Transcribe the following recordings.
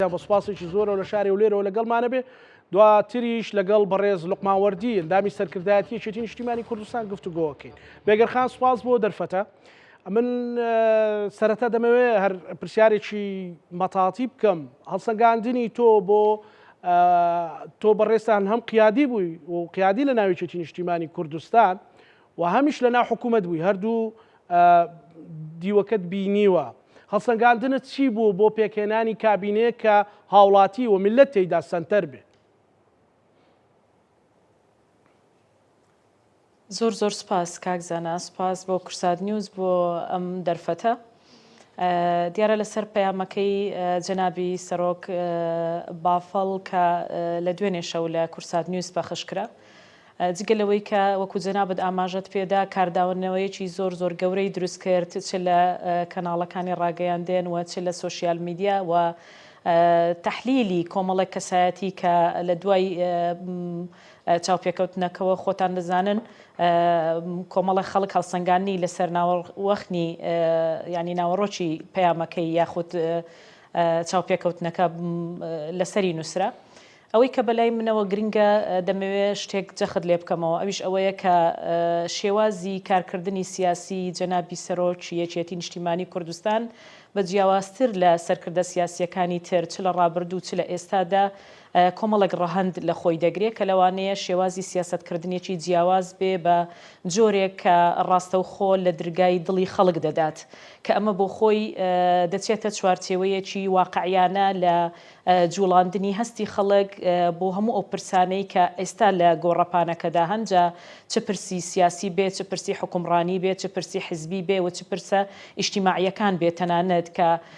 جا بە سوپاسێکی زۆرەوە لە شاری هەولێرەوە لەگەڵمانە بێ دواتریش لەگەڵ بەڕێز لوقمان وەردی ئەندامی سەرکردایەتی یەکێتی نیشتیمانی کوردستان گفتوگۆکەین بێگەرخان سوپاس بۆ دەرفەتە من سەرەتا دەمەوێ هەر پرسیارێکی مەتاتی بکەم هەڵسەنگاندنی تۆ بۆ تۆ بەڕێستان هەم قیادی بووی و قیادی لە ناویچێتی نیشتیمانی کوردستان وە هەمیش لە ناو حکومەت بووی هەردوو دیوەکەت بینیوە هەڵسەنگاندنت چی بوو بۆ پێکهێنانی کابینەیەک کە هاوڵاتی و میللەت تێیدا سەنتەر بێ؟ زۆر زۆر سپاس کاک زانا سپاس بۆ کورسات نیوز بۆ ئەم دەرفەتە. دیارە لەسەر پەیامەکەی جەنابی سەرۆک بافڵ کە لە دوێنێ شەو لە کورسات نیوز پەخش کرا جگە لەوەی کە وەکو جەنابت ئاماژەت پێدا کارداونەوەیەکی زۆر زۆر گەورەی دروست کرد چ لە کەناڵەکانی ڕاگەیاندێن و چ لە سوسیال میدیا و تحلیلی کۆمەڵێک کەسایەتی کە لە دوای چاوپێکەوتنەکەوە خۆتان دەزانن کۆمەڵە خەڵک هەڵسەنگاندنی لەسەر ناوەڕوەخنی یانی ناوەڕۆکی پەیامەکەی یاخود چاوپێکەوتنەکە لەسەری نووسرا ئەوەی کە بەلای منەوە گرنگە دەمەوێ شتێک جەخت لێ بکەمەوە ئەویش ئەوەیە کە شێوازی کارکردنی سیاسی جەنابی سەرۆکی یەکێتی نیشتیمانی کوردستان بە جیاوازتر لە سەرکردە سیاسیەکانی تر چ لە ڕابردوو چ لە ئێستادا کۆمەڵێک ڕەهەند لە خۆی دەگرێ کە لەوانەیە شێوازی سیاسەتکردنێکی جیاواز بێ بە جۆرێک کە ڕاستەوخۆ لە درگای دڵی خەڵک دەدات کە ئەمە بۆ خۆی دەچێتە چوارچێوەیەکی واقعیانە لە جووڵاندنی هەستی خەڵک بۆ هەموو ئەو پرسانەی کە ئێستا لە گۆڕەپانەکەدا هەن جا چ پرسی سیاسی بێ چ پرسی حوکمڕانی بێ چ پرسی حزبی بێ و چ پرسە ئیجتیماعییەکان بێ تەنانەت کە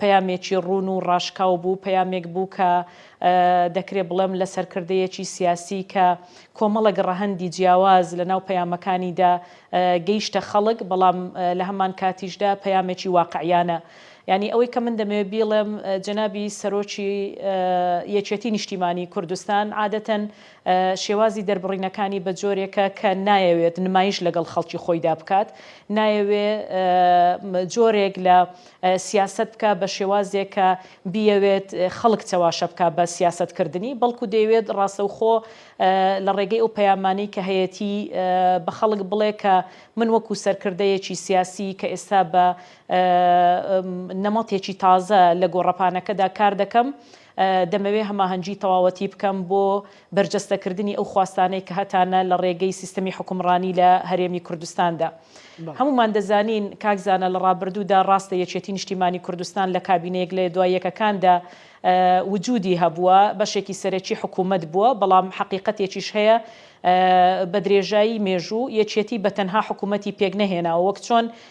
پەیامێکی ڕوون و ڕاشکاو بوو، پەیامێک بوو کە دەکرێ بڵێم لە سەرکردەیەکی سیاسی کە کۆمەڵێک ڕەهەندی جیاواز لە ناو پەیامەکانیدا گەیشتە خەڵک، بەڵام لە هەمان کاتیشدا پەیامێکی واقعیانە. یانی ئەوەی کە من دەمەوێ بیڵێم جەنابی سەرۆکی یەکێتی نیشتیمانی کوردستان عادەتەن شێوازی دەربڕینەکانی بە جۆرێکە کە نایەوێت نمایش لەگەڵ خەڵکی خۆیدا بکات، نایەوێ جۆرێک لە سیاسەت بکا بە شێوازێک کە بیەوێت خەڵک چەواشە بکا بە سیاسەت کردنی بەڵکو دەیەوێت ڕاستەوخۆ لە ڕێگەی ئەو پەیامانەی کە هەیەتی بە خەڵک بڵێ کە من وەکو سەرکردەیەکی سیاسی کە ئێستا بە نەمەتێکی تازە لە گۆڕەپانەکەدا کار دەکەم دەمەوێت هەماهەنگی تەواوەتی بکەم بۆ بەرجەستەکردنی ئەو خواستانەی کە هەتانە لە ڕێگەی سیستەمی حوکمڕانی لە هەرێمی کوردستاندا. هەموومان دەزانین کاک زانا لە ڕابردوودا ڕاستە یەکێتی نیشتیمانی کوردستان لە کابینەیەک لە دوای یەکەکاندا وجودی هەبووە، بەشێکی سەرەکی حکوومەت بووە، بەڵام حەقیقەتێکیش هەیە بە درێژایی مێژوو یەکێتی بە تەنها حکوومەتی پێک نەهێناوە وەک چۆن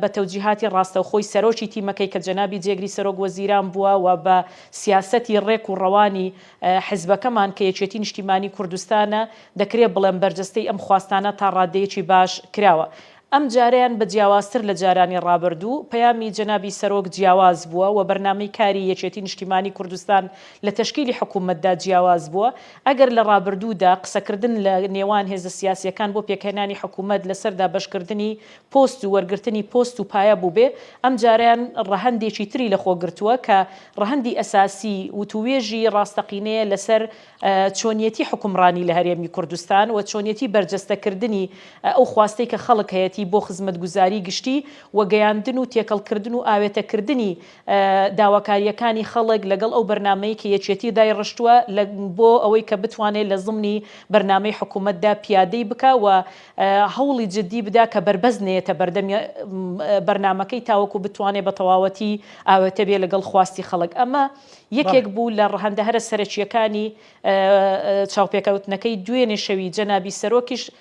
بە تەوجیهاتی ڕاستەوخۆی سەرۆکی تیمەکەی کە جەنابی جێگری سەرۆک وەزیران بووە و بە سیاسەتی ڕێک و ڕەوانی حزبەکەمان کە یەکێتی نیشتیمانی کوردستانە دەکرێ بڵێم بەرجەستەی ئەم خواستانە تا ڕادەیەکی باش کراوە. ئەم جارەیان بە جیاوازتر لە جارانی ڕابردوو پەیامی جەنابی سەرۆک جیاواز بووە و بەرنامەی کاری یەکێتی نیشتیمانی کوردستان لە تەشکیلی حکوومەتدا جیاواز بووە. ئەگەر لە ڕابردوودا قسەکردن لە نێوان هێزە سیاسییەکان بۆ پێکهێنانی حکوومەت لەسەر دابەشکردنی پۆست و وەرگرتنی پۆست و پایە بووبێ، ئەمجارەیان ڕەهەندێکی تری لە خۆ گرتووە کە ڕەهەندی ئەساسی وتووێژی ڕاستەقینەیە لەسەر چۆنیەتی حوکمڕانی لە هەرێمی کوردستان و چۆنیەتی بەرجەستەکردنی ئەو خواستەی کە خەڵک هەیەتی بۆ خزمەتگوزاری گشتی و گەیاندن و تێکەڵکردن و ئاوێتەکردنی داواکارییەکانی خەڵک لەگەڵ ئەو بەرنامەی کە یەکێتی دایڕشتووە لە بۆ ئەوەی کە بتوانێ لە زمنی بەرنامەی حکوومەتدا پیادەی بکا و هەوڵی جددی بدا کە بەربەست نەیەتە بەردەم بەرنامەکەی تاوەکوو بتوانێ بە تەواوەتی ئاوێتە بێ لەگەڵ خواستی خەڵک. ئەمە یەکێک بوو لە ڕەهەندە هەرە سەرەکییەکانی چاوپێکەوتنەکەی دوێنێ شەوی جەنابی سەرۆکیش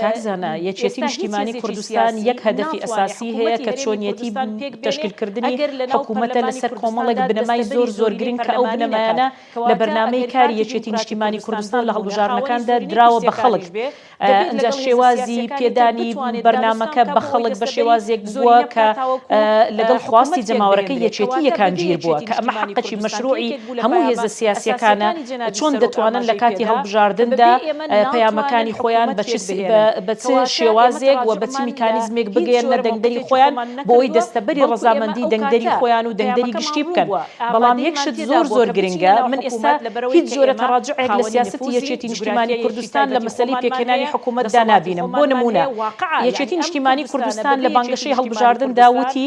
کاک زانا یەکێتی نیشتیمانی کوردستان یەک هەدەفی ئەساسی هەیە کە چۆنیەتی تەشکیلکردنی حکوومەتە لەسەر کۆمەڵێک بنەمای زۆر زۆر گرنگ کە ئەو بنەمایانە لە بەرنامەی کاری یەکێتی نیشتیمانی کوردستان لە هەڵبژاردنەکاندا دراوە بە خەڵک ئەجا شێوازی پێدانی بەرنمەکە بە خەڵک بە شێوازێک بووە کە لەگەڵ خواستی جەماوەرەکەی یەکێتی یەکانگیر بووە کە ئەمە حەقەکی مەشروعی هەموو هێزە سیاسییەکانە چۆن دەتوانن لە کاتی هەڵبژاردندا پەیامەکانی خۆیان بە چ شێوازێک و بە چ میکانیزمێک بگەیەننە دەنگدەری خۆیان بۆوەی دەستەبەری ڕەزامەندی دەنگدەری خۆیان و دەنگدەری گشتی بکەن. بەڵام یەک شت زۆر زۆر گرنگە، من ئێستا هیچ جۆرە تەڕاجوعێک لە سیاسەتی یەکێتی نیشتیمانی کوردستان لە مەسەلەی پێکهێنانی حکوومەتدا نابینم. بۆ نموونە یەکێتی نیشتیمانی کوردستان لە بانگەشەی هەڵبژاردندا وتی،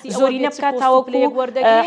زۆرینە بکات تاوەکو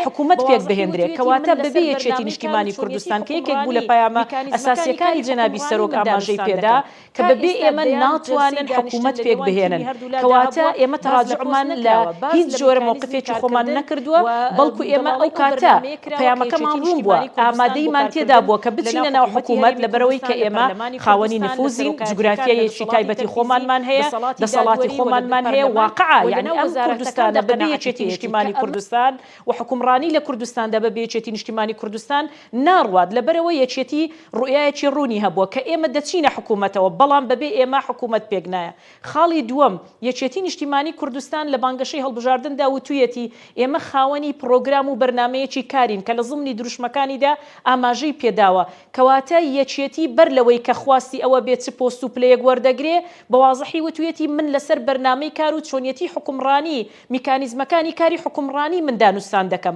حکوومەت پێک بهێندرێت، کەواتە بەبێ یەکێتی نیشتیمانی کوردستان کە یەکێک بوو لە پەیامە ئەساسییەکانی جەنابی سەرۆک ئاماژەی پێدا کە بەبێ ئێمە ناتوانن حکوومەت پێک بهێنن، کەواتە ئێمە تەراجوعمان لە هیچ جۆرە مەوقفێکی خۆمان نەکردووە، بەڵکو ئێمە ئەو کاتە. پەیامەکەمان ڕوون بووە، ئامادەییمان تێدا بووە کە بچینە ناو حکوومەت، لەبەرئەوەی کە ئێمە خاوەنی نفووزین، جوگرافیایەکی تایبەتی خۆمانمان هەیە، دەسەڵاتی خۆمانمان هەیە، واقعە یەعنی ئەم کوردستانە بەبێ یەکێتی نیشتیمانی کوردستان و حوکمڕانی لە کوردستاندا بەبێ یەکێتی نیشتیمانی کوردستان ناڕوات، لەبەرئەوەی یەکێتی ڕوئیایەکی ڕوونی هەبووە کە ئێمە دەچینە حکوومەتەوە، بەڵام بەبێ ئێمە حکوومەت پێکنایە، خاڵی دووەم، یەکێتی نیشتیمانی کوردستان لە بانگەشەی هەڵبژاردندا وتویەتی، ئێمە خاوەنی پڕۆگرام و بەرنامەیەکی کارین کە لە زمنی دروشمەکانیدا ئاماژەی پێداوە، کەواتە یەکێتی بەر لەوەی کە خواستی ئەوە بێ چ پۆست و پلەیەک وەردەگرێ، بە وازحی وتویەتی، من لەسەر بەرنامەی کار و چۆنیەتی حوکمڕانی، میکانیزمەکانی کاری حوکمڕانی من دانوستان دەکەم.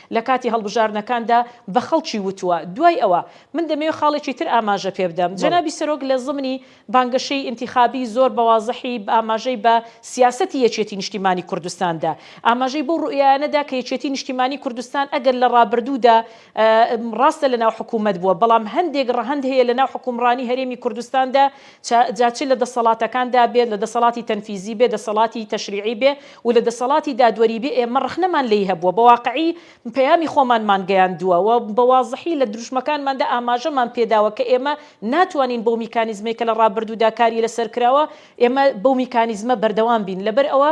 لە کاتی هەڵبژاردنەکاندا بە خەڵکی وتووە. دوای ئەوە، من دەمەوێت خاڵێکی تر ئاماژە پێ بدەم. بەڵێ. جەنابی سەرۆک لە زمنی بانگەشەی ئینتیخابی زۆر بە وازحی ئاماژەی بە سیاسەتی یەکێتی نیشتیمانی کوردستان دا. ئاماژەی بەو روئیایانە دا کە یەکێتی نیشتیمانی کوردستان ئەگەر لە رابردوودا راستە لە ناو حکوومەت بووە، بەڵام هەندێک رەهەند هەیە لە ناو حوکمڕانی هەرێمی کوردستاندا جا چ لە دەسەڵاتەکاندا بێت، لە دەسەڵاتی تەنفیزی بێت، دەسەڵاتی تەشریعی بێت و لە دەسەڵاتی دادوەری بێت، ئێمە ڕەخنەمان لێی هەبووە، بە واقعی پەیامی خۆمانمان گەیاندووە و بە وازحی لە دروشمەکانماندا ئاماژەمان پێداوە کە ئێمە ناتوانین بەو میکانیزمەی کە لە ڕابردوودا کاری لەسەر کراوە، ئێمە بەو میکانیزمە بەردەوام بین. لەبەر ئەوە.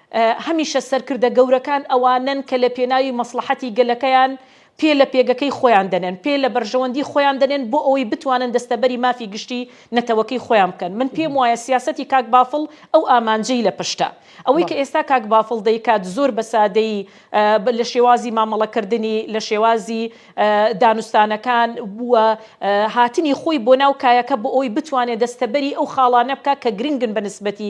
هەمیشە سەرکردە گەورەکان ئەوانەن کە لە پێناوی مەسڵەحەتی گەلەکەیان پێ لە پێگەکەی خۆیان دەنێن، پێ لە بەرژەوەندی خۆیان دەنێن بۆ ئەوەی بتوانن دەستەبەری مافی گشتی نەتەوەکەی خۆیان بکەن. من پێم وایە سیاسەتی کاک بافڵ ئەو ئامانجەی لە پشتە. ئەوەی کە ئێستا کاک بافڵ دەیکات زۆر بە سادەیی لە شێوازی مامەڵەکردنی، لە شێوازی دانوستانەکان و هاتنی خۆی بۆ ناو کایەکە بۆ ئەوەی بتوانێ دەستەبەری ئەو خاڵانە بکا کە گرنگن بە نسبەتی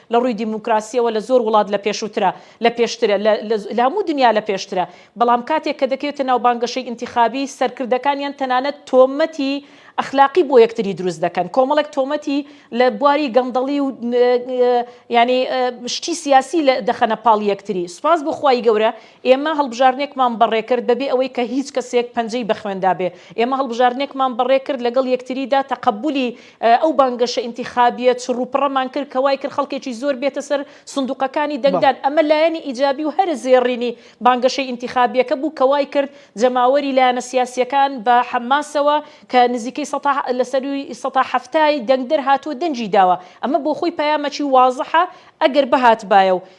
لە ڕووی دیموکراسییەوە لە زۆر وڵات لە پێشووترە، لە پێشترە، لە لە هەموو دنیا لە پێشترە، بەڵام کاتێک کە دەکەوێتە ناو بانگەشەی ئینتیخابی، سەرکردەکانیان تەنانەت تۆمەتی ئەخلاقی بۆ یەکتری دروست دەکەن، کۆمەڵێک تۆمەتی لە بواری گەندەڵی و یانی شتی سیاسی لە دەخەنە پاڵ یەکتری، سوپاس بۆ خوای گەورە ئێمە هەڵبژاردنێکمان بەڕێ کرد بەبێ ئەوەی کە هیچ کەسێک پەنجەی بە خوێندا بێ، ئێمە هەڵبژاردنێکمان بەڕێ کرد لەگەڵ یەکتریدا تەقەبولی ئەو بانگەشە ئینتیخابییە چڕوپڕەمان کرد کە وایکرد خەڵکێکی زۆر بێتە سەر سندووقەکانی دەنگدان، ئەمە لایەنی ئیجابی و هەرە زێڕینی بانگەشەی ئینتیخابییەکە بوو کە وایکرد جەماوەری لایەنە سیاسییەکان بە حەماسەوە کە نزیکەی سەتا لە سەرووی سەتا حەفتای دەنگدەر هاتووە دەنگی داوە، ئەمە بۆخۆی پەیامەکی وازحە ئەگەر بهاتبایە و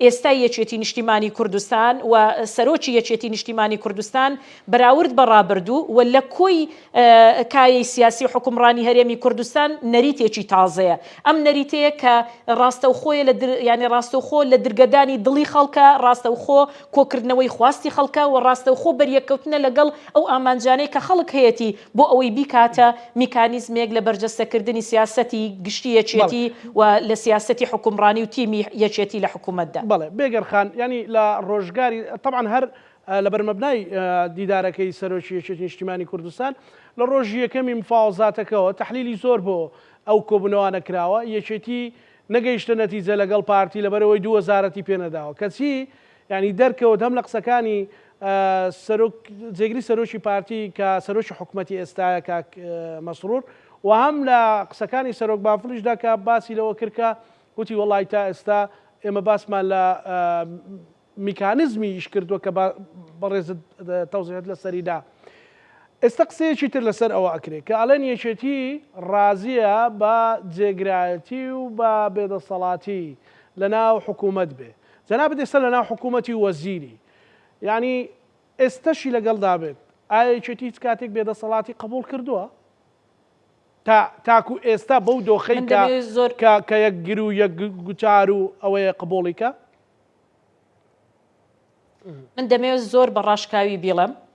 ئێستای یەکێتی نیشتیمانی کوردستان و سەرۆکی یەکێتی نیشتیمانی کوردستان بەراورد بە ڕابردوو و لە کۆی کایەی سیاسی و حوکمڕانی هەرێمی کوردستان نەریتێکی تازەیە ئەم نەریتەیە کە ڕاستەوخۆیە لە در یانی ڕاستەوخۆ لە درگەدانی دڵی خەڵکە ڕاستەوخۆ کۆکردنەوەی خواستی خەڵکە و ڕاستەوخۆ بەریەککەوتنە لەگەڵ ئەو ئامانجانەی کە خەڵک هەیەتی بۆ ئەوەی بیکاتە میکانیزمێک لە بەرجەستەکردنی سیاسەتی گشتی یەکێتی بەڵێ. و لە سیاسەتی حکومڕانی و تیمی یەکێتی لە حکومەتدا. بەڵێ بێگەر خان، یانی لە ڕۆژگاری، تەبعەن هەر لەبەر مەبنای دیدارەکەی سەرۆکی یەکێتی نیشتیمانی کوردستان، لە ڕۆژی یەکەمی مفاوەزاتەکەوە تەحلیلی زۆر بۆ ئەو کۆبوونەوانە کراوە، یەکێتی نەگەیشتە نەتیجە لەگەڵ پارتی لەبەرئەوەی دوو وەزارەتی پێنەداوە، کەچی یانی دەرکەوت هەم لە قسەکانی سەرۆک جێگری سەرۆکی پارتی کە سەرۆکی حکومەتی ئێستایە کاک مەسرور و هەم لە قسەکانی سەرۆک بافڵیشدا کە باسی لەوە کرد کە وتی وەڵی تا ئێستا ئێمە باسمان لە میکانزمی ئیش کردووە کە بەڕێزت تەوزیحت لەسەری دا ئێستا قسەیەکی تر لەسەر ئەوە ئەکرێت کە ئەڵێن یەکێتی ڕازیە بە جێگرایەتی و بە بێدەسەڵاتی لە ناو حکوومەت بێ جەنابت ئێستا لەناو حکوومەتی و وەزیری یانی ئێستەشی لەگەڵدا بێت ئایا یەکێتی هیچ کاتێک بێدەسەڵاتی قبوڵ کردووە؟ تا تاکو ئێستا بەو دۆخەی من کە دەمێ زۆر کە کە یەک گر و یەک گوتار و ئەوەیە قبوڵی کە؟ من دەمەوێت زۆر بە ڕاشکاوی بیڵێم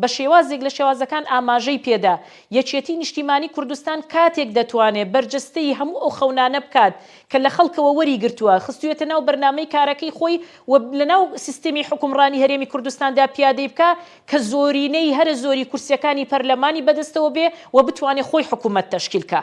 بە شێوازێک لە شێوازەکان ئاماژەی پێدا، یەکێتی نیشتیمانی کوردستان کاتێک دەتوانێت بەرجەستەی هەموو ئەو خەونانە بکات کە لە خەڵکەوە وەریگرتووە، خستوویەتە ناو بەرنامەی کارەکەی خۆی و لەناو سیستمی حوکمڕانی هەرێمی کوردستاندا پیادەی بکا کە زۆرینەی هەرە زۆری کورسیەکانی پەرلەمانی بەدەستەوە بێ و بتوانێ خۆی حکومەت تەشکیل کا.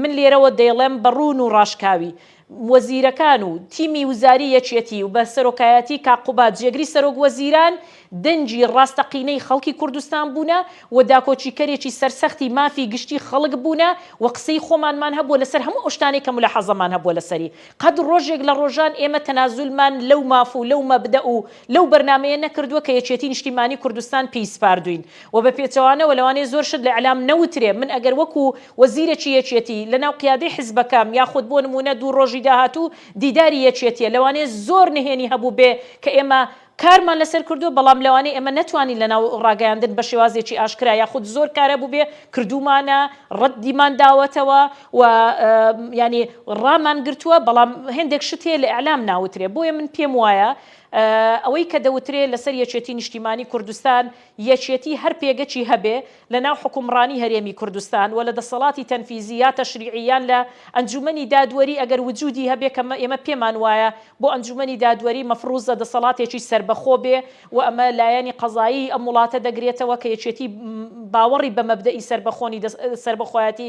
من لێرەوە دەیڵێم بە ڕوون و ڕاشکاوی، وەزیرەکان و تیمی وزاری یەکێتی و بە سەرۆکایەتی کاک قوباد جێگری سەرۆک وەزیران دەنگی ڕاستەقینەی خەڵکی کوردستان بوونە و داکۆکیکەرێکی سەرسەختی مافی گشتی خەڵک بوونە و قسەی خۆمانمان هەبووە لەسەر هەموو ئەو شتانەی کە مولاحازەمان هەبووە لەسەری قەت ڕۆژێک لە ڕۆژان ئێمە تەنازولمان لەو ماف و لەو مەبدەئ و لەو بەرنامەیە نەکردووە کە یەکێتی نیشتیمانی کوردستان پێی سپاردووین وە بە پێچەوانەوە لەوانەیە زۆر شت لە ئیعلام نەوترێ من ئەگەر وەکو وەزیرەکی یەکێتی لە ناو قیادەی حزبەکەم یاخود بۆ نموونە دوو ڕۆژی داهاتوو دیداری یەکێتیە لەوانەیە زۆر نهێنی هەبووبێ کە ئێمە کارمان لەسەر کردووە بەڵام لەوانەیە ئێمە نەتوانین لە ناو ڕاگەیاندن بە شێوازێکی ئاشکرا یاخود زۆر کار هەبووبێ کردوومانە ڕەدیمان داوەتەوە و یانی ڕامان گرتووە بەڵام هێندێک شت هەیە لە ئیعلام ناوترێ بۆیە من پێم وایە ئەوەی کە دەوترێ لەسەر یەکێتی نیشتیمانی کوردستان یەکێتی هەر پێگەکی هەبێ لە ناو حوکمڕانی هەرێمی کوردستان و لە دەسەڵاتی تەنفیزی یا تەشریعی یان لە ئەنجومەنی دادوەری ئەگەر وجودی هەبێ کە ئێمە پێمان وایە بۆ ئەنجومەنی دادوەری مەفروزە دەسەڵاتێکی سەربەخۆ بێ و ئەمە لایەنی قەزایی ئەم وڵاتە دەگرێتەوە کە یەکێتی باوەڕی بە مەبدەئی سەربەخۆنی سەربەخۆیەتی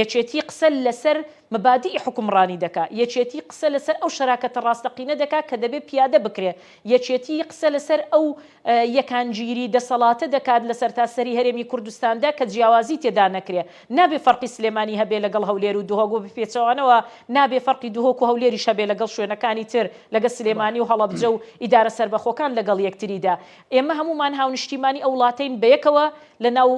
یەکێتی قسە لەسەر مەبادیئی حوکمڕانی دەکا، یەکێتی قسە لەسەر ئەو شەراکەتە ڕاستەقینە دەکا کە دەبێ پیادە بکرێ، یەکێتی قسە لەسەر ئەو یەکانگیری دەسەڵاتە دەکات لە سەرتاسەری هەرێمی کوردستاندا کە جیاوازی تێدا نەکرێ. نابێ فەرقی سلێمانی هەبێ لەگەڵ هەولێر و دهۆک و بە پێچەوانەوە نابێ فەرقی دهۆک و هەولێریش هەبێ لەگەڵ شوێنەکانی تر، لەگەڵ سلێمانی و هەڵەبجە و ئیدارە سەربەخۆکان لەگەڵ یەکتریدا. ئێمە هەموومان هاونیشتیمانی ئەو وڵاتەین بەیەکەوە لەناو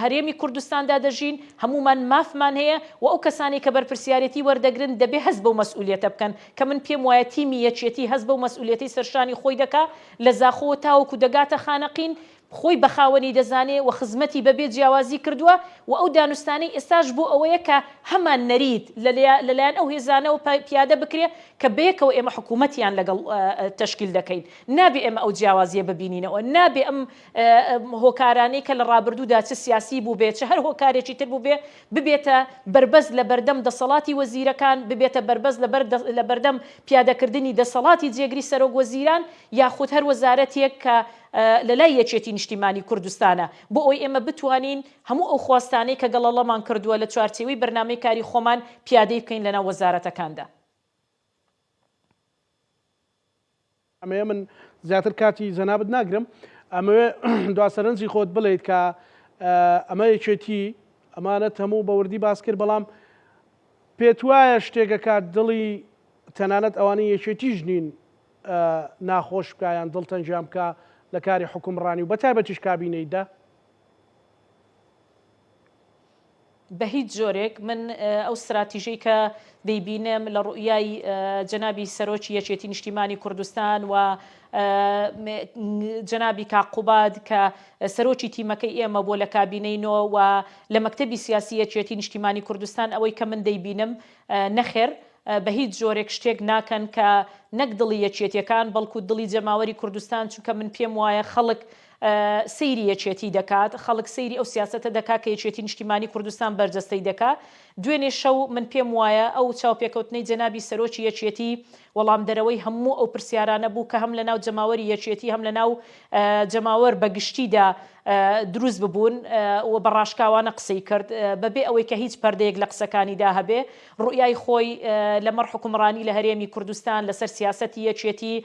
هەرێمی کوردستاندا دەژین، هەموومان مافمان هەیە و ئەو کەسانەی کە بەرپرسیارێتی وەردەگرن دەبێ هەست بەو مەسئولیەتە بکەن کە من پێم وایە تیمی یەکێتی هەست بەو مەسئولیەتەی سەرشانی خۆی دەکا لە زاخۆوە تاوەکو دەگاتە خانەقین خۆی بەخاوەنی دەزانێ و خزمەتی بەبێ جیاوازی کردووە و ئەو دانوستانەی ئێستاش بۆ ئەوەیە کە هەمان نەریت لەلایەن ئەو هێزانەوە پیادە بکرێ کە بەیەکەوە ئێمە حکوومەتیان لەگەڵ تەشکیل دەکەین. نابێ ئێمە ئەو جیاوازییە ببینینەوە، نابێ ئەم هۆکارانەی کە لە ڕابردوودا چ سیاسی بووبێ، چ هەر هۆکارێکی تر بووبێ، ببێتە بەربەست لە بەردەم دەسەڵاتی وەزیرەکان، ببێتە بەربەست لە بەردەم پیادەکردنی دەسەڵاتی جێگری سەرۆکوەزیران یاخود هەر وەزارەتێک کە لە لای یەکێتی نیشتیمانی کوردستانە، بۆ ئەوەی ئێمە بتوانین هەموو ئەو خواستانەی کە گەڵەڵەمان کردووە لە چوارچێوەی بەرنامەی کاری خۆمان پیادەی بکەین لەناو وەزارەتەکاندا. ئەمەیە من زیاتر کاتی جەنابت ناگرم ئەمەوێ دوا سەرنجی خۆت بڵیت کە ئەمە یەکێتی ئەمانە تەموو بەوردی باس کرد بەڵام پێت وایە شتێکەکات دڵی تەنانەت ئەوانی یەکێتیش نین ناخۆش بکیان دڵ تەنجیان بکە لە کاری حکومڕانی و بەتایبەتیش کابینەیدا بە هیچ جۆرێک من ئەو ستراتیژەی کە دەیبینم لە ڕوئیای جەنابی سەرۆکی یەکێتی نیشتیمانی کوردستان و جەنابی کاقوباد کە سەرۆکی تیمەکەی ئێمە بۆ لە کابینەی نۆ و لە مەکتتەبی سیاسی یەکێتی نیشتیمانی کوردستان ئەوەی کە من دەیبینم نەخێر بە هیچ جۆرێک شتێک ناکەن کە نەک دڵی یەکێتیەکان بەڵکو دڵی جەماوەری کوردستان چونکە من پێم وایە خەڵک سەیری یەکێتی دەکات خەڵک سەیری ئەو سیاسەتە دەکات کە یەکێتی نیشتیمانی کوردستان بەرجەستەی دەکات دوێنێ شەو من پێم وایە ئەو چاوپێکەوتنەی جەنابی سەرۆکی یەکێتی وەڵامدەرەوەی هەموو ئەو پرسیارانە بوو کە هەم لە ناو جەماوەری یەکێتی هەم لە ناو جەماوەر بە گشتیدا دروست ببوون و بە ڕاشکاوانە قسەی کرد بە بێ ئەوەی کە هیچ پەردەیەک لە قسەکانیدا هەبێ ڕوئیای خۆی لە مەڕ حکومڕانی لە هەرێمی کوردستان لە سەر سیاسەتی یەکێتی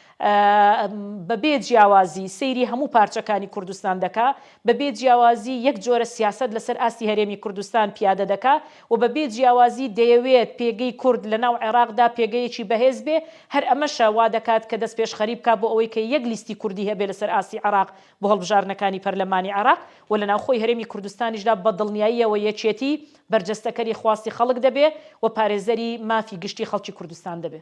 بەبێ جیاوازی سەیری هەموو پارچەکانی کوردستان دەکا، بەبێ جیاوازی یەک جۆرە سیاسەت لەسەر ئاستی هەرێمی کوردستان پیادە دەکا و بەبێ جیاوازی دەیەوێت پێگەی کورد لەناو عێراقدا پێگەیەکی بەهێز بێ، هەر ئەمەشە وا دەکات کە دەستپێشخەری بکا بۆ ئەوەی کە یەک لیستی کوردی هەبێ لەسەر ئاستی عێراق بۆ هەڵبژاردنەکانی پەرلەمانی عێراق و لە ناوخۆی هەرێمی کوردستانیشدا بە دڵنیاییەوە یەکێتی بەرجەستەکەری خواستی خەڵک دەبێ و پارێزەری مافی گشتی خەڵکی کوردستان دەبێ.